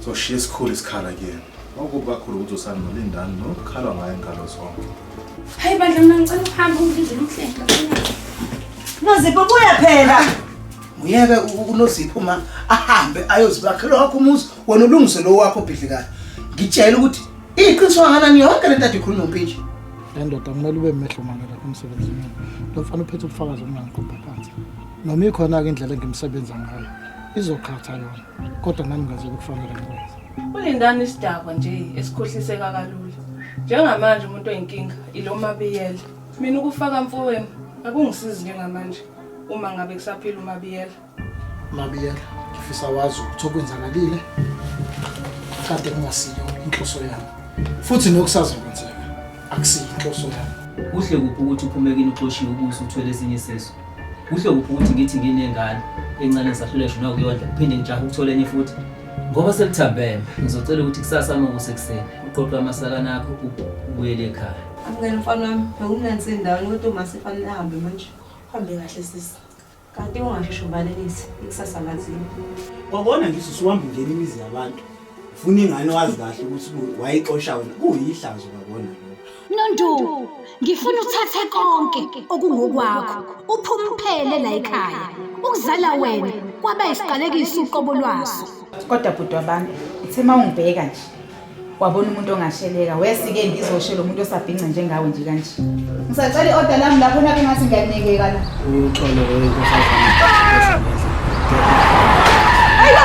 So she is cool is color again. Okuba khulu ukuthi usani nolindani no khalwa ngaye ngalo zonke. Hayi bandla mina ngicela ukuhamba ungidle umhlenga. Nozipho buya phela. Uyeke uNozipho uma ahambe ayozibakhela wakho umuzi wena ulungise lo wakho bhidlikayo. Ngitshela ukuthi iqiniso kanani yonke lento athi khuluma umpintshe. Le ndoda kumele ube mehlo mangala kumsebenzini. Lo mfana uphethe ubufakazi obungangiqopha phansi. Noma ikhona ke indlela engimsebenza ngayo. Izokhatha yona. kodwa nami ngazi ukukufanele ngikwenze ulindani isidakwa nje esikhohliseka kalula njengamanje umuntu oyinkinga ilo mabiyela mina ukufaka mfowenu akungisizi njengamanje uma ngabe kusaphila umabiyela mabiyela ngifisa wazi ukuthi okwenzakalile kade kungasiyo inhloso yami futhi nokusazokwenzeka akusiyo inhloso yami kuhle kuphi ukuthi uphume kini uxoshiwe ukuze uthwele ezinye sezo Kuhle kuphi ukuthi ngithi nginengane encane ngisahluleshwa nokuyondla phinde ngijahe ukuthola enye futhi ngoba selithambeme ngizocela ukuthi kusasa uma kusekuseni uqoqe amasakana akho ubuyele ekhaya amukela mfana wami bewumnansi endaweni kodwa uma sefane ahambe manje hambe kahle sisi kanti ungashisho ubalelise ikusasa lazini kwakona ngisisi uhamba ungena imizi yabantu Funa ingane wazi kahle ukuthi wayixosha wena kuyihlazo babona lokho. Nondu, ngifuna uthathe konke okungokwakho, uphume uphele la ekhaya. Ukuzala wena kwaba isiqalekiso uqobo lwaso. Kodwa bhuti wabantu, uthe uma ungibheka nje wabona umuntu ongasheleka wesike ngizoshela umuntu osabhince njengawe nje kanje. Ngisacela i-oda lami lapho nabe ngathi ngiyakunekeka la. Uxolo wenkosazana. Ayo!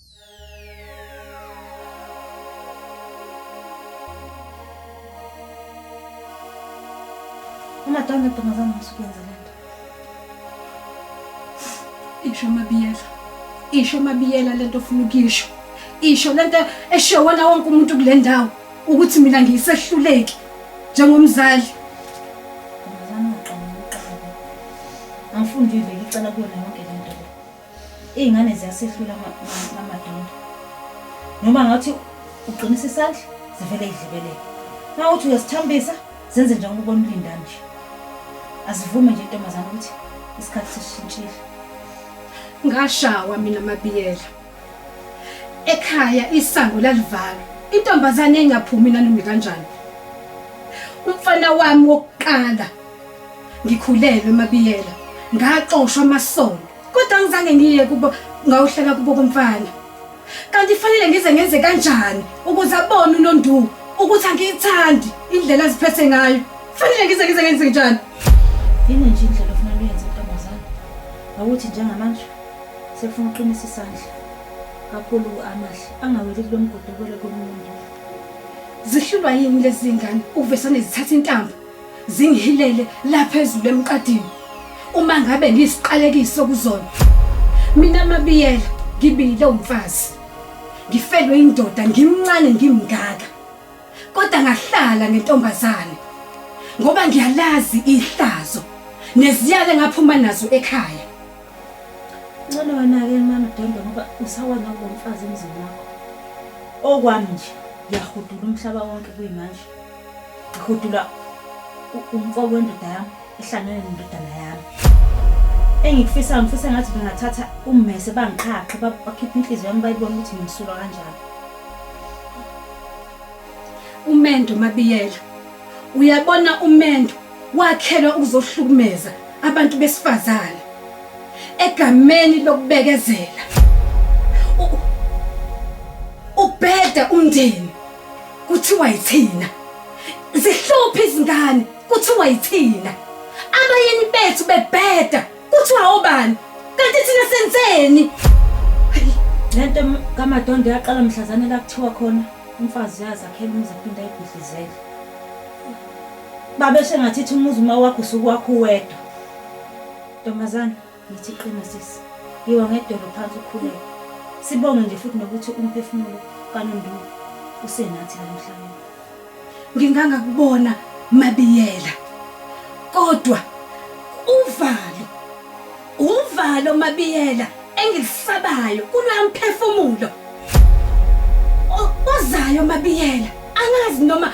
Umatange ntombazana masukwenza le nto. Isho mabiyela. Isho mabiyela le nto ofuna ukuyisho. Isho le nto eshiwo wona wonke umuntu kule ndawo ukuthi mina ngiyisehluleki njengomzali. Ntombazana uqala uqala. Angifundile ngicela kuwena Iy'ngane ziyasehlula amadondo. Noma ngathi uqinisa isandla zivele idlibelele. Uma uthi uyasithambisa zenze njengoba ubona ulinda nje. Asivume nje intombazane ukuthi isikhathi sishintshile. Ngashawa mina mabiyela. Ekhaya isango lalivalwa. Intombazane engaphumi nanoma kanjani. Umfana wami wokuqala Ngikhulelwe Mabiyela, ngaxoshwa amasono kodwa ngizange ngiye kubo ngawuhlala kubo komfana. Kanti fanele ngize ngenze kanjani ukuze abone uNonduku ukuthi angiyithandi indlela aziphethe ngayo. Fanele ngize ngize ngenze njani? Yini nje indlela ofuna uyenze ntombazana? Awuthi njengamanje sefuna uqinisa isandla kakhulu amahle angaweli kulo mgodobelo komuntu. Zihlulwa yini lezi ngane ukuvesane zithatha intambo? zingihilele lapha ezulu emqadini uma ngabe ngiyisiqalekiso kuzona mina mabiyela ngibile umfazi ngifelwe indoda ngimncane ngimngaka kodwa ngahlala ngentombazane ngoba ngiyalazi ihlazo neziyale ngaphuma nazo ekhaya ngcono wena ke mama Dondo ngoba usawona ngomfazi emzini wakho okwami nje ngiyahudula umhlaba wonke kuyimanje ngihudula umfo wendoda yami ehlangene nendodana yami engikufisa ngifisa ngathi bengathatha ummese bangiqhaqhe bakhiphe inhliziyo yami bayibone ukuthi ngimsulwa kanjani umendo mabiyela uyabona umendo wakhelwa ukuzohlukumeza abantu besifazane egameni lokubekezela ubheda umndeni kuthiwa yithina zihlupha izingane kuthiwa yithina abayeni bethu bebheda kuthiwa obani kanti thina senzeni lento kamadondo yaqala mhlazane la kuthiwa khona umfazi uyazakhela umuzi aphinde ayibhidlizele babeshe ngathi ithi umuzi uma wakho usukwakho uwedwa ntombazane Ngithi qina sisi. Yiwa ngedolo phansi ukhuleke. Sibonge nje futhi nokuthi umphefumulo kaNondulu usenathi la emhlabeni. Ngingangakubona Mabiyela. Kodwa uvalo uvalo Mabiyela engilisabayo kulwamphefumulo. Ozayo Mabiyela angazi noma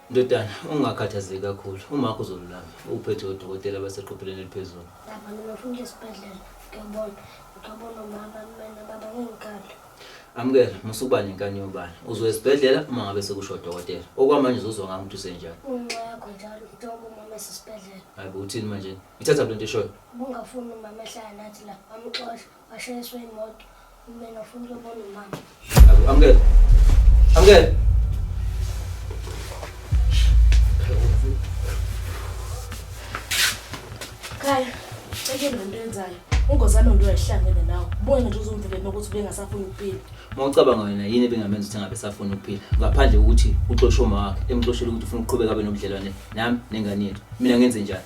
Ndodana, ungakhathazeki kakhulu. Umakho uzolulama. Uphethwe odokotela abaseqophelweni eliphezulu. Baba, mina ngifuna ukuya esibhedlela. Ngiyobona. Ngiyobona umama, mina baba ngingikhala. Amukela, musukuba nenkani yobala. Uzoya esibhedlela uma ngabe sekusho odokotela. Okwamanje uzozwa ngami ukuthi usenjani. Unxa yakho njalo njengoba umama esesibhedlela. Hayi bo, uthini manje? Ithatha lento eshoyo. Ubungafuni umama ehlala nathi la, amxosha. Washayiswa imoto. Mina ufuna ukubona umama. Amkela. Amkela. Khaya, eke nento yenzayo. Ungozana umuntu oyahlangene nawe. Ubone nje uzomvikela ukuthi ubengasafuni ukuphila. Uma ucabanga wena yini ebengamenza ukuthi angabe safuna ukuphila ngaphandle kokuthi uxoshe uma wakhe emxoshela ukuthi ufuna ukuqhubeka abe nobudlelwane nami nengane yethu mina ngenze njani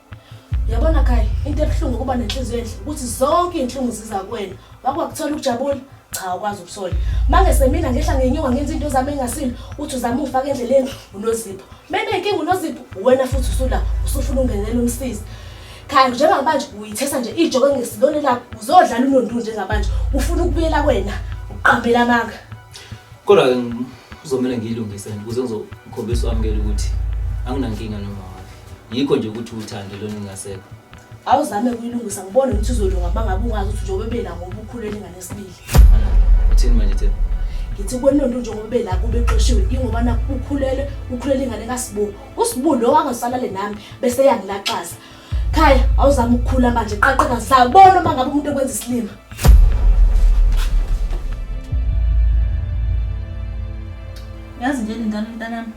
Yabona Kai, into ebuhlungu ukuba nenhliziyo enhle ukuthi zonke izinhlungu ziza kuwena. Wakwakuthola ukujabula? Cha, ukwazi ukusola. Manje semina ngehla ngenyuka ngenza into zami engasile, uthi uzama ufaka endleleni unozipho. Mena inkinga unozipho, wena futhi usula usufuna ungenela umsizi. Kai, njengamanje uyithesa nje ijoko ngesilone lakho, uzodlala unondu njengamanje. Ufuna ukubuyela kwena, uqambela amanga. Kodwa ke uzomela ngiyilungise ukuze ngizokhombisa wamukela ukuthi anginankinga noma yikho nje ukuthi uthando lona ingasekho awuzame kuyilungisa ngibone ukuthi uzolunga uma ngabe ungazi ukuthi njengoba bela ngoba ukhulele ingane esibili uthini manje thina ngithi kwenonto njengoba bela kube xoshiwe ingoba nakho ukhulele ukhulele ingane kasibu usibu lo angasalale nami bese yangilaxaza khaya awuzame ukukhula manje qaqeka sabona uma ngabe umuntu ekwenza isilima yazi nje lindana mntanami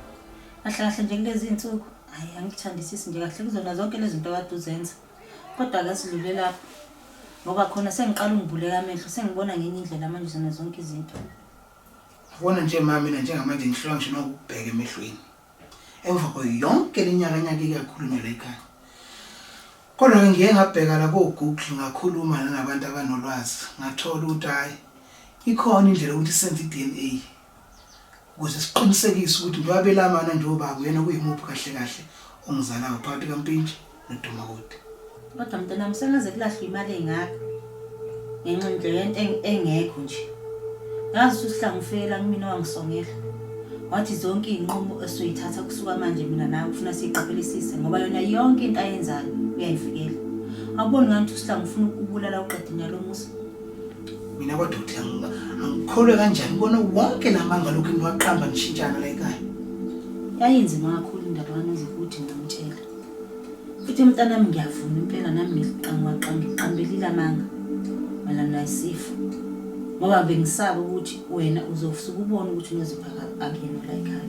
kahle kahle nje kulezi nsuku hayi angithandisisi nje kahle kuzona zonke lezi zinto kade uzenza kodwa ke sidlule lapho ngoba khona sengiqala ungibuleka amehlo sengibona ngenye indlela manje zona zonke izinto yabona nje ma mina njengamanje ngihlula ngisho nokubheka emehlweni emva kwayo yonke le nyaka nyaka ikakhulunywa la ekhaya kodwa ke ngiye ngabheka la ko-google ngakhuluma nanabantu abanolwazi ngathola ukuthi hhayi ikhona indlela yokuthi senze i-d n a ukuze siqinisekise ukuthi ngiwabelamana nje obaba uyena kuyimuphi kahle kahle ongizalayo phakathi kampintshi nodumakude kodwa mntanami sengaze kulahlwa imali engaka ngenxa nje yento eng- engekho nje yazi ukuthi uhlangu ufela kumina wangisongela wathi zonke iy'nqumo esoyithatha kusuka manje mina nawe kufuna siyiqaphelisise ngoba yona yonke into ayenzayo uyayivikela awuboni ngani ukuthi usihlangu ufuna ukubulala uqedini yalo musa mina kwadoda yanga angikholwe kanjani ubona wonke lamanga lokhu niwaqamba nishintshana la ekhaya yayinzima kakhulu indaba kanozokuthi ngamtshela futhi mntanami ngiyavuma impela nami ngiqangwaqanga ngiqambelile amanga mayelana nesifo ngoba bengisaba ukuthi wena uzosuke ubone ukuthi unoziphaka akuyena la ekhaya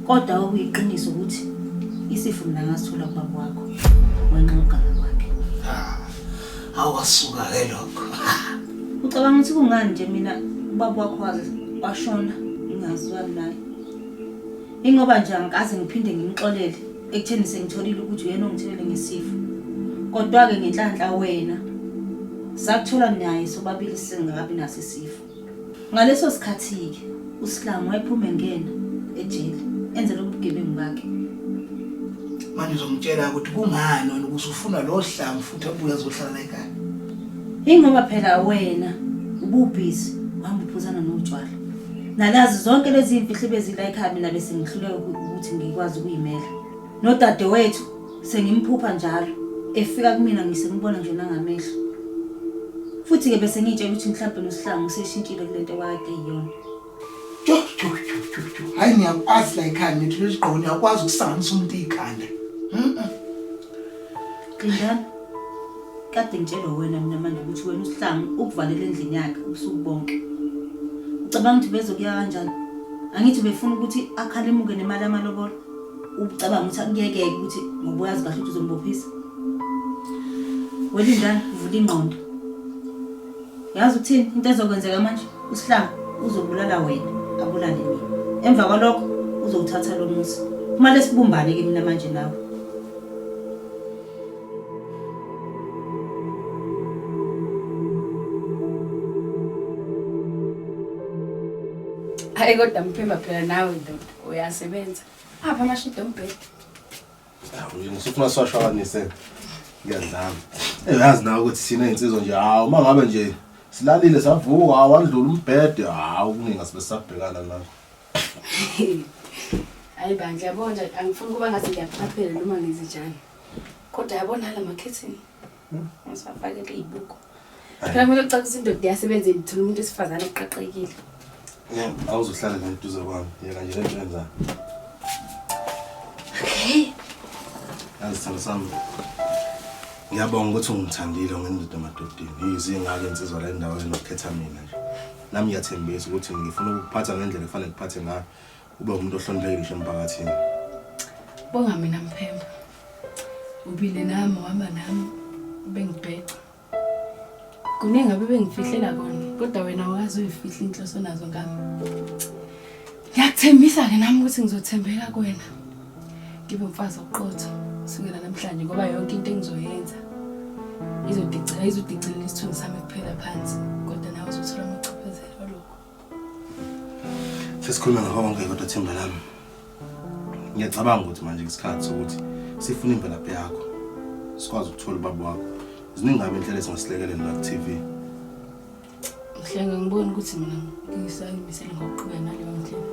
kodwa okuyiqiniso ukuthi isifo mina ngasithola kubaba wakho wenxa ugama kwakhe ah, awasuka ke lokho ucabanga ukuthi kungani nje mina ubaba wakho waze washona ngingazwani naye ingoba nje angikaze ngiphinde ngimxolele ekutheni sengitholile ukuthi uyena ongithelele ngesifo kodwa-ke ngenhlanhla wena sakuthola naye sobabili singakabi naso isifo Ngaleso sikhathi-ke uSlam wayephuma engena ejele enze lobu bugebengu bakhe. Manje uzomtshela ukuthi kungani wena ukuthi ufuna lo Slam futhi abuye azohlala la ekhaya. Ingoba phela wena ububhizi uhamba uphuzana notshwala. Nalazi zonke lezi zimfihlo ebezila ekhaya mina bese ngihluleka ukuthi ngikwazi ukuyimela. Nodadewethu sengimphupha njalo efika kumina ngisembona nje nangamehlo futhi-ke bese ngiyitshela ukuthi mhlawumbe nosihlangu useshintshile kule nto kwakade yiyona jo jo jo jo jo hhayi ngiyakwazi la ikhanda ngithi leli gqoko ngiyakwazi ukusanganisa umuntu ikhanda Lindani kade ngitshelwe wena mina manje ukuthi wena usihlangu ukuvalela endlini yakhe ubusuku bonke ucabanga ukuthi bezokuya kanjani angithi befuna ukuthi akhalimuke nemali yamalobolo ucabanga ukuthi akuyekeke ukuthi ngoba uyazi kahle ukuthi uzombophisa wena ingane vula ingqondo yazi ukuthini into ezokwenzeka manje usihlanga uzobulala wena abulale mina emva kwalokho uzowuthatha lo musa kumale sibumbane ke mina manje nawe hayi kodwa mphemba phela nawe ndoda uyasebenza apha amashidi ombhedi ngisufuna siwashwakanise ngiyadlama eyazi nawe ukuthi sine insizwa nje hawu uma ngabe nje silalile savuka awandlula umbhede hawu kuningi asibe sisabhekana nakho hayi bandla yabona angifuni ukuba ngathi ngiyaphaphela noma ngenze njani kodwa yabona la makhethini Usafakele ibuko. Phela kumele ucacise indoda yasebenza ithula umuntu esifazane eqaqekile. Awuzohlala naye duze kwami. Yeka nje lento yenza. Okay. Azithanda sami. Ngiyabonga ukuthi ungithandile ngendoda emadodeni. Yizi ngake insizwa la endaweni nokukhetha mina nje. Nami ngiyathembisa ukuthi ngifuna ukuphatha ngendlela efanele kuphathe ngayo. Ube umuntu ohloniphekile ngisho emphakathini. Bonga mina Mphemba. Ubile nami wahamba nami ubengibheca. Kuningi abebengifihlela kona kodwa wena awukazi uyifihla inhloso nazo ngami. Ngiyakuthembisa-ke nami ukuthi ngizothembeka kuwena. Ngibe umfazi oqotho kusukela namhlanje ngoba yonke into engizoyenza izodicela izodicilela isithunzi sami kuphela phansi. Sesikhuluma ngihonke kodwa themba lami. Ngiyacabanga ukuthi manje ngesikhathi sokuthi sifune imvelaphi yakho. Sikwazi ukuthola ubaba wakho. Ziningi ngabe indlela esingasilekelela la ku-TV. Mhlenga ngibona ukuthi mina ngisayimisele ngokuqhubeka naleyo ndlela.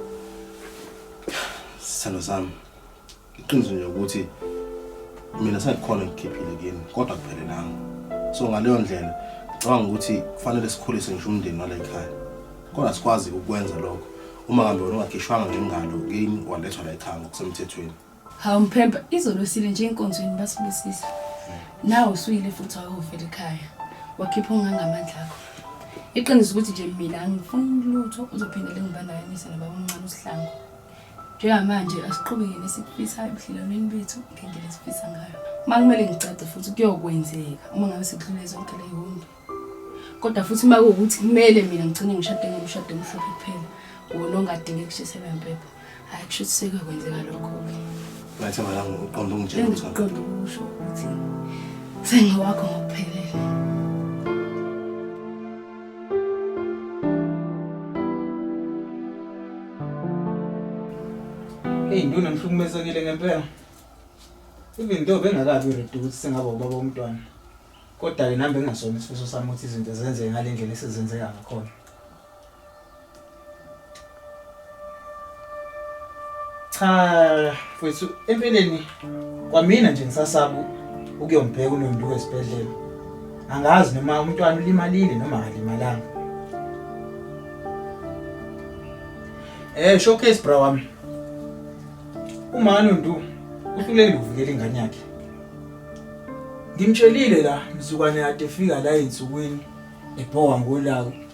Sithando sami. Iqiniso nje ukuthi mina sengikhona ngikhiphile kini kodwa kuphelelanga. So ngaleyo ndlela ngicabanga ukuthi kufanele sikhulise ngisho umndeni wale khaya. Kodwa sikwazi ukwenza lokho uma kambe wena ungakhishwanga ngengalo kini walethwa la ekhaya ngokusemthethweni. Hawu mphemba izolosile nje enkonzweni basibusisa. Nawe usuyile futhi wayovela ekhaya. Wakhipha ongangamandla akho. Iqiniso ukuthi nje mina angifuni lutho uzophindele ngibanayo ngise nababa omncane uSihlangu. Njengamanje asiqhubekeni esikufisayo ebudlelwaneni bethu ngendlela esifisa ngayo. Uma kumele ngicace futhi kuyokwenzeka uma ngabe sekudlule zonke leyonto. Kodwa futhi uma kuwukuthi kumele mina ngigcine ngishade ngomshado omhlophe kuphela, wona ongadinge kushiselwa impepho. Hhayi kusho ukuthi sekuyokwenzeka lokho-ke. Ngathi malanga uqonda ungitshela ukuthi Engiqonda ukusho ukuthi sengowakho ngokuphelele. Hey, nduna ngihlukumezekile ngempela. Even though bengakabi reduce sengaba ubaba womntwana. Kodwa ke nami bengasona isifiso sami ukuthi izinto zenzeke ngalendlela esizenzeka ngakhona. Cha mfethu empeleni kwamina nje ngisasaba ukuyombheka uNonduka esibhedlela. Angazi noma umntwana ulimalile noma akalimalanga. Eh showcase bra wami. Uma Nondu uhlulekile ukuvikela ingane yakhe. Ngimtshelile la mzukwane yakhe efika la ensukwini ebhowa ngolaka.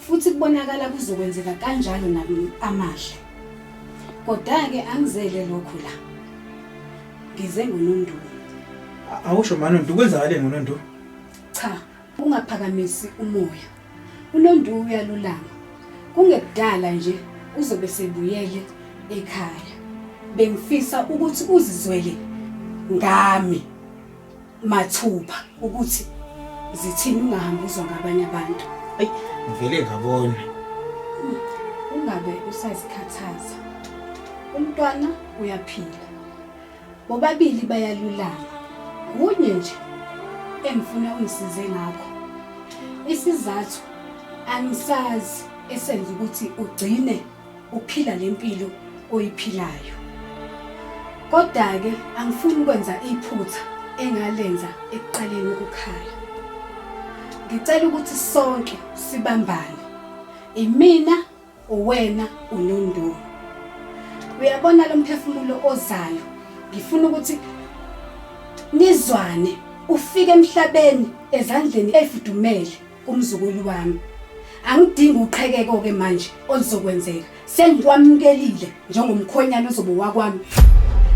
futhi kubonakala kuzokwenzeka kanjalo nami amahle. Kodwa-ke angizele lokhu la. Ngize ngonondu. A- Awusho manondu kwenzakaleni ngonondu? Cha, ungaphakamisi umoya. UNondu uyalulama. Kungekudala nje uzobe sebuyele ekhaya. Bengifisa ukuthi uzizwele ngami. mathupha ukuthi zithini ungahambi uzwa ngabanye abantu ayi ngivele ngabona hmm, ungabe usazikhathaza umntwana uyaphila bobabili bayalulama kunye nje engifuna ungisize ngakho isizathu angisazi esenza ukuthi ugcine uphila le mpilo oyiphilayo. Kodwa-ke angifuni ukwenza iphutha engalenza ekuqaleni ukukhala. Ngicela ukuthi sonke sibambane. Imina, uwena, uNondoni. Uyabona lo mphefumulo ozayo. Ngifuna ukuthi nizwane ufike emhlabeni ezandleni efudumele Kumzukulu wami. Angidingi uqhekeko ke manje oluzokwenzeka. Sengikwamukelile njengomkhwenyana ozobe wakwami.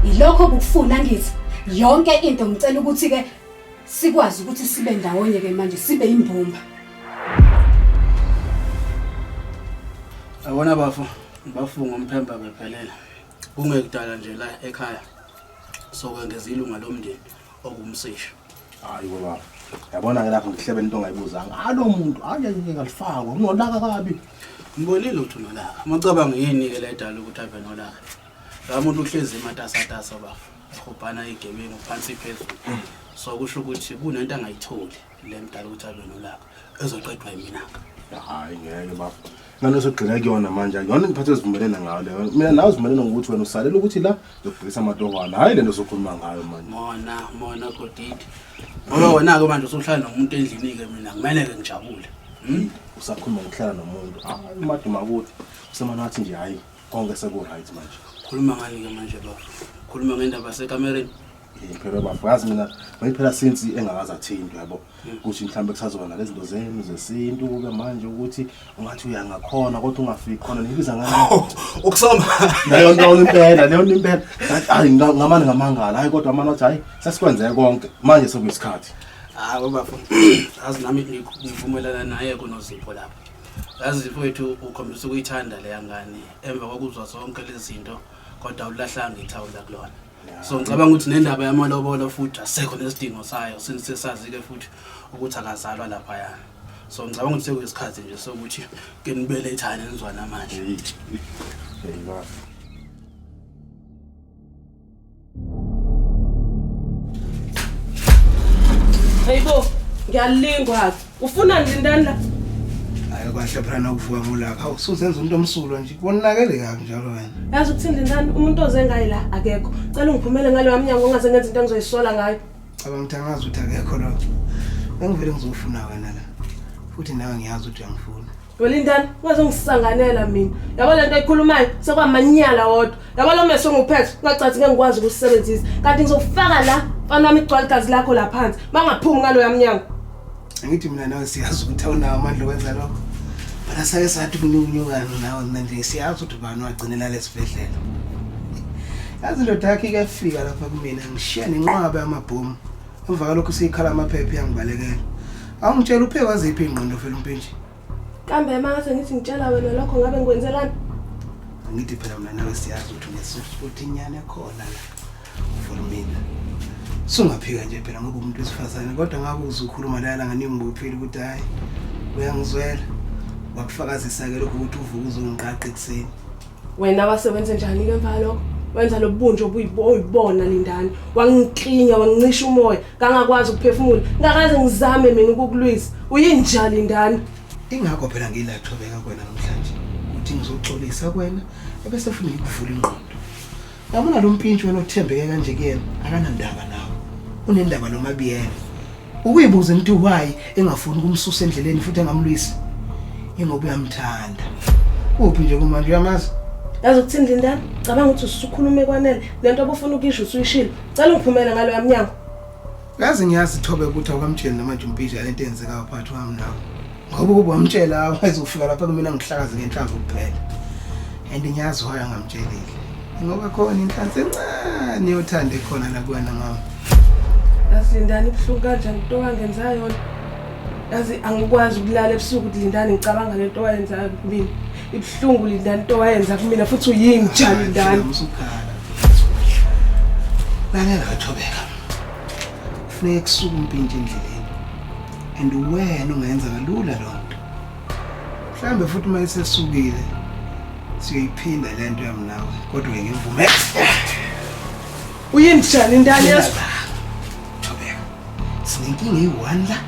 Yilokho bukufuna ngithi yonke into ngicela ukuthi ke sikwazi ukuthi sibe ndawonye ke manje sibe imbumba. Awona bafo, ngibafunga umphemba bephelela. Kungekudala nje la ekhaya. Sokwengeza ilunga lomndeni okumsisha. hayi baba yabona-ke lapho ngihlebele into ongayibuzanga alo muntu hayi ayike kalifakwa kunolaka kabi ngibonile ukuthi unolaka macabanga yini-ke le edala ukuthi ave nolaka la muntu uhlezi ematasatasa bafo ehobhana igebengu phansi phezulu so kusho ukuthi kunento angayitholi le mdala ukuthi ave nolaka ezoqedwa yiminaka hayi ngeke bafo ngane osogxile kuyona manje akuyona into phathe zivumelene ngayo leyo mina nawe zivumelene ngokuthi wena usalela ukuthi la ngiyokubhekisa amatohwana hhayi le nto sokhuluma ngayo manje mona mona kodidi ngoba wena-ke manje usuhlala nomuntu endlini-ke mina kumele-ke ngijabule hmm? usakhuluma ngokuhlala nomuntu hayi umaduma kuthi usemane wathi nje hhayi konke seku-right manje khuluma ngani-ke manje bafo khuluma ngendaba sekamereni phela bafo yazi mina mayiphela since engakazi athintwe yabo ukuthi mhlawumbe kusazoba nalezinto zenu zesintu kube manje ukuthi ungathi uyangakhona kodwa ungafiki khona nibiza ngani ukusoma leyo nto impela leyo nto impela hayi ngamani ngamangala hayi kodwa amana athi hayi sesikwenzeke konke manje sekuyisikhathi hayi bafo azi nami ngivumelana naye kunozipho lapho yazi zipho wethu ukhombisa ukuyithanda leya ngane emva kokuzwa zonke lezi zinto kodwa awulahlanga ithawula kulona so ngicabanga ukuthi nendaba yamalobolo futhi asekho nesidingo sayo since sesazi-ke futhi ukuthi akazalwa laphayana so ngicabanga ukuthi sekuyisikhathi nje sokuthi ke nibelethane nizwana manje Hey bo, ngiyalingwa-ke Ufuna ndindani la? Hayi kwahle phela nokuvuka ngolapha. Usuzenza umuntu omsulwa nje. Wonakele kabi njalo wena. Yazi ukuthi ndindani umuntu oze ngayi la akekho. Cela ungiphumele ngale wamnyango ongaze ngenze into engizoyisola ngayo. Cabanga ukuthi angazi ukuthi akekho lo. Bengivele ngizofuna wena la. Futhi nawe ngiyazi ukuthi uyangifuna. Welindani ungazongisanganela mina yabo lento ekhulumayo sekwamanyala wodwa yabo lo meso nguphethe ungacathi ngeke ngikwazi ukusebenzisa kanti ngizofaka la mfana wami igcwala igazi lakho la phansi bangaphumi ngalo yamnyango ngithi mina nawe siyazi ukuthi awunawo amandla okwenza lokho but asake sathi kunyukunyukano nawe mina nje siyazi ukuthi ubani wagcinela lesibhedlela yazi ndoda yakhe ikafika lapha kumina ngishiya nenqwaba yamabhomu emva kalokhu siyikhala amaphepha yangibalekela awungitshela uphe waziphi ingqondo vele umpintshi kambe mase ngithi ngitshela wena lokho ngabe ngikwenzelani ngithi phela mina nawe siyazi ukuthi unesofuthi inyane khona la for mina sungaphika nje phela ngoba umuntu wesifazane kodwa ngakuze ukhuluma lala nganingibophiile ukuthi hayi uyangizwela wakufakazisa-ke lokho ukuthi uvuka uzongiqaqa ekuseni wena wase wenze njani ke mva lokho wenza lobunje obuyibona lindani wangiklinya wangincisha umoya ngangakwazi ukuphefumula ngakaze ngizame mina ukukulwisa uyinja lindani ingakho phela ngilathobeka kwena namhlanje ukuthi ngizoxolisa kwena ebese funa ngikuvula ingqondo Yabona lo mpintshi wena othembeke kanje kuyena akanandaba nawe. Unendaba nomabiyela. Ukuyibuza into why engafuni ukumsusa endleleni futhi engamlwisi. Ingoba uyamthanda. Kuphi nje kumanje uyamazi? Yazi ukuthini Lindani? Cabanga ukuthi usukhulume kwanele. Lento obufuna ukuyisho usuyishilo. Cela ungiphumele ngalo yamnyango. Yazi ngiyazi thobe ukuthi awukamtsheli namanje umpiji yalento eyenzekayo phakathi kwami nawe. Ngoba ukuba wamtshela wayezofika lapha kumina ngihlakaze ngenhlamvu kuphela. And ngiyazi why angamtshelile. Ngoba khona inhlansi encane yothanda ekhona la kuwena mama. Yazi Lindani ibuhlungu kanjani into wangenza yona. Yazi angikwazi ukulala ebusuku ukuthi Lindani ngicabanga lento owayenzayo kumina. Ibuhlungu Lindani into owayenza kumina futhi uyinja Lindani. Usukhala. Lalela thobeka. kufuneka kusuke umpintshe endleleni and uwena ungayenza kalula loo nto mhlawumbe futhi uma isesukile siyoyiphinda le nto yamnawe kodwa ngimvume uyindijani intani yesba thobeka sinenkinga eyi-one la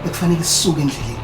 ekufanele sisuke endleleni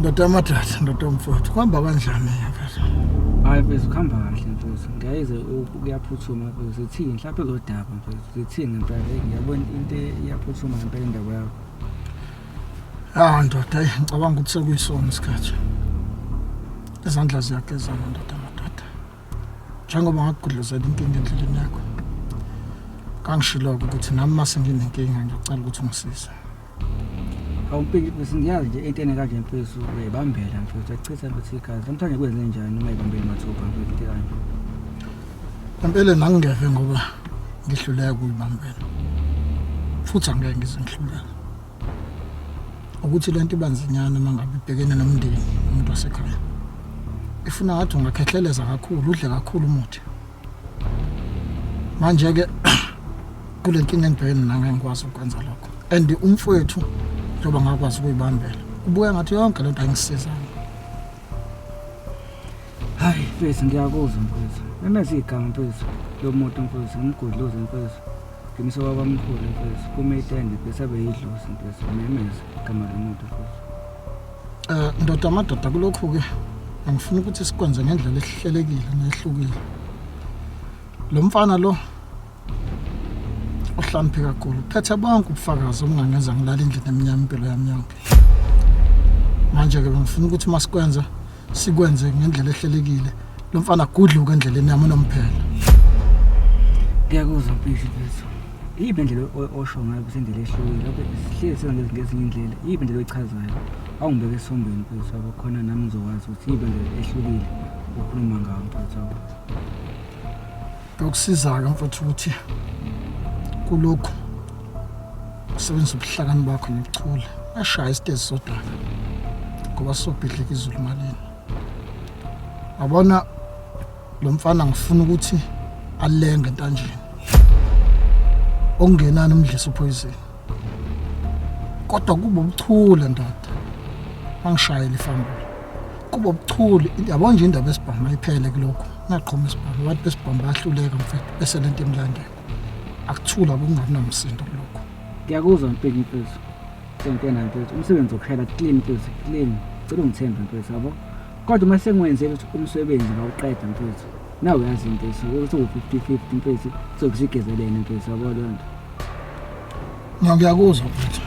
ndoda amathatha ndoda omfowethu kuhamba kanjani mfethu hayi mfethu kuhamba kahle mfethu ngiyayeze kuyaphuthuma mfethu zithini mhlawumpe lodaba mfethu zithini ngempela ngiyabona into iyaphuthuma ngempela indaba yakho Ah ndoda, eh, ngicabanga ukuthi sekuyisona isikhathi. Izandla ziyagezana ndoda madoda. Njengoba ngakugudluzela inkinga endleleni yakho. Kangishilo ukuthi nami mase nginenkinga ngiyacela ukuthi ungisize. Awumpiki bese ngiyazi nje into enekaje mfethu uyibambela mfethu achitha mfethu igazi. Namhlanje kwenze njani uma ibambela mathupha mfethu into kanje. Ngempela nangingeve ngoba ngihluleka ukuyibambela. Futhi angeke ngizingihluleka. ukuthi lento ibanzinyana mangabe ibhekene nomndeni umuntu wasekhaya ifuna ngathi ungakhehleleza kakhulu udle kakhulu umuthi manje ke kule nkinga engibhekene nami ngikwazi ukwenza lokho and umfowethu njengoba ngakwazi ukuyibambela ubuya ngathi yonke lento ayingisizanga hayi mfethu ngiyakuzwa mfethu memeza igama mfethu lo muntu mfethu ngimgudluze mfethu Qiniseka kwamkhulu mfethu kuma itende bese abe yidlozi mfethu umemeze igama lomuntu futhi. Eh ndoda amadoda kulokhu ke angifuni ukuthi sikwenze ngendlela esihlelekile nehlukile. Lo mfana lo uhlamphe kakhulu phethe bonke ubufakazi obungangenza ngilala endlini emnyama impilo yami yonke. Manje ke bengifuna ukuthi masikwenza sikwenze ngendlela ehlelekile lo mfana agudluke endleleni yami unomphela ngiyakuzwa mfethu mfethu iyiphi indlela o- osho ngayo ukuthi indlela ehlukile lokho sihlezi senza lezi ngezinye indlela iyiphi indlela oyichazayo awungibeke esombeni mfethu wabo khona nami ngizokwazi ukuthi iyiphi indlela ehlukile okhuluma ngayo mfethu wabo Kuyokusiza-ke mfowethu ukuthi kulokhu usebenzisa ubuhlakani bakho nobuchule ashaya isitezi sodaka ngoba sobhidlika izulu malini wabona lo mfana ngifuna ukuthi alenge entanjeni okungenani umdlisa uphoyizini kodwa kuba ubuchule ndoda angishayele ifambula kuba ubuchule yabona nje indaba esibhamu ayiphele kulokhu naqhoma isibhamu abantu besibhamu bayahluleka mfethu bese le nto emlandela akuthula kungabi namsindo kulokhu ngiyakuzwa mpini mfethu sentena mfethu umsebenzi wokushayela clean mfethu clean cela ungithembe mfethu yabo kodwa uma sengiwenzele ukuthi umsebenzi ngawuqeda mfethu Now uyazi mfethu ukuthi u-50-50 mfethu sokusigezelene mfethu yabo loo nto Mina ngiyakuzwa mfethu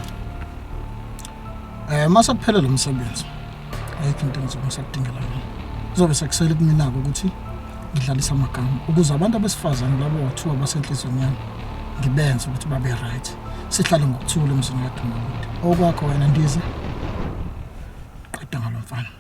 Eh mase kuphele lo msebenzi ayikho into engizobe ngisakudingela yona kuzobe sekusele kumina-ke ukuthi ngidlalise amagama ukuze abantu abesifazane labo wathiwa basenhliziyweni yami ngibenze ukuthi babe right sihlale ngokuthula emzini kadumakude okwakho wena ndize qeda ngalo mfana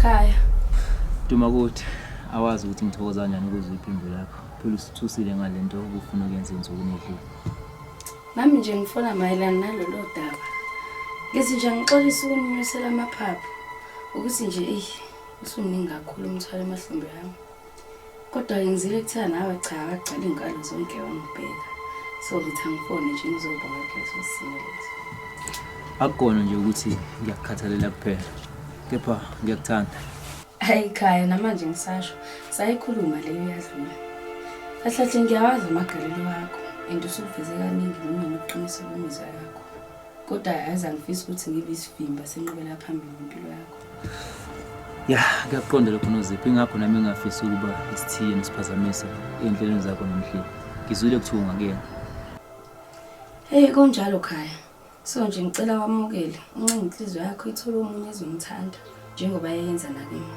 Khaya. Duma kuthi awazi ukuthi ngithokoza kanjani ukuzwa iphimbo lakho. Phela usithusile ngale nto ubufuna ukuyenza ensukwini edlule. Nami nje ngifona mayelana nalolo daba. Ngithi nje ngixolisa ukuninyusela amaphaphu ukuthi nje eyi usuningi kakhulu umthwalo emahlombe yami. Kodwa ngizile kuthiwa nawe cha akagcwala iy'nkalo zonke wangibheka. So ngithi angifone nje ngizobonga kuleso simo leso. Akukona nje ukuthi ngiyakukhathalela kuphela kepha ngiyakuthanda. Hayi khaya namanje ngisasho sayikhuluma leyo yadlula. Kahle kahle ngiyawazi amagalelo akho and usuveze kaningi noma nokuqinisa kwemizwa yakho. kodwa yazi angifisi ukuthi ngibe isivimba senqubela phambili impilo yakho ya kuyakuqonda lokho nozipho ingakho nami engafisi ukuba isithiye nesiphazamisa ey'nhlelweni zakho nomhleli ngizwile kuthiwa ungakuyena heyi konjalo khaya so nje ngicela wamukele uncenga inhliziyo yakho ithole omunye ezomthanda njengoba yayenza nakimi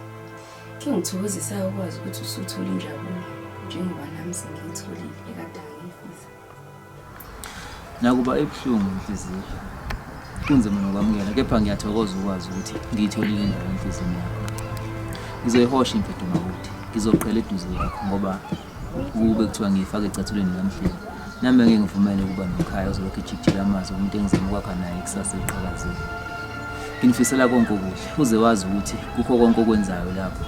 khe ngithokozisayo ukwazi ukuthi usuthole injabulo njengoba nami sengiyitholile ekadangifisa Nakuba ibuhlungu inhliziyo, kunzima nokwamukela, kepha ngiyathokoza ukwazi ukuthi ngiyitholile indawo enhliziyweni yakho. Ngizoyihosha imfihlo makuthi, ngizoqhela eduze yakho ngoba ukube kuthiwa ngiyifake ecathulweni lamhleni. Nami ngeke ngivumele ukuba nomkhaya ozolokhu ejikijela amazi umuntu engizama ukwakha naye ikusasa eliqhakazile. Nginifisela konke okuhle, uze wazi ukuthi kukho konke okwenzayo lapho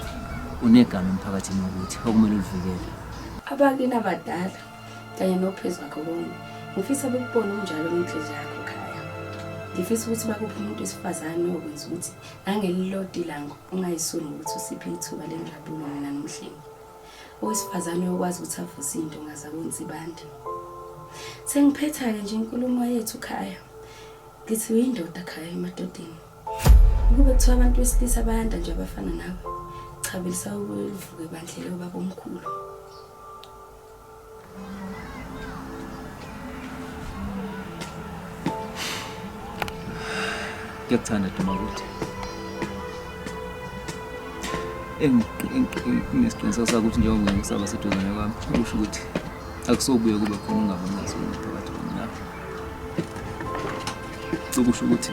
unegama emphakathini wokuthi okumele ulivikele. Abakini abadala kanye nophezu wakho konke ngifisa bekubone unjalo inhliziyo yakho khaya ngifisa ukuthi bakuphi umuntu wesifazane okwenza ukuthi nangelilodi lango ungayisoni ukuthi usiphe ithuba lenjabulo mina nomhlengi owesifazane okwazi ukuthi avuse into ngaza kwenza ibandi sengiphetha-ke nje inkulumo yethu khaya ngithi uyindoda khaya emadodeni ukube kuthiwa abantu besilisa bayanda nje abafana nawe cha belisakulivuke bandlela ubaba omkhulu Ngiyakuthanda Duma ukuthi nginesiqiniseko sakuthi njengoba ngikusaba seduzane kwami kusho ukuthi akusobuye kube khona ungabonazona phakathi kwami lapho kusho ukuthi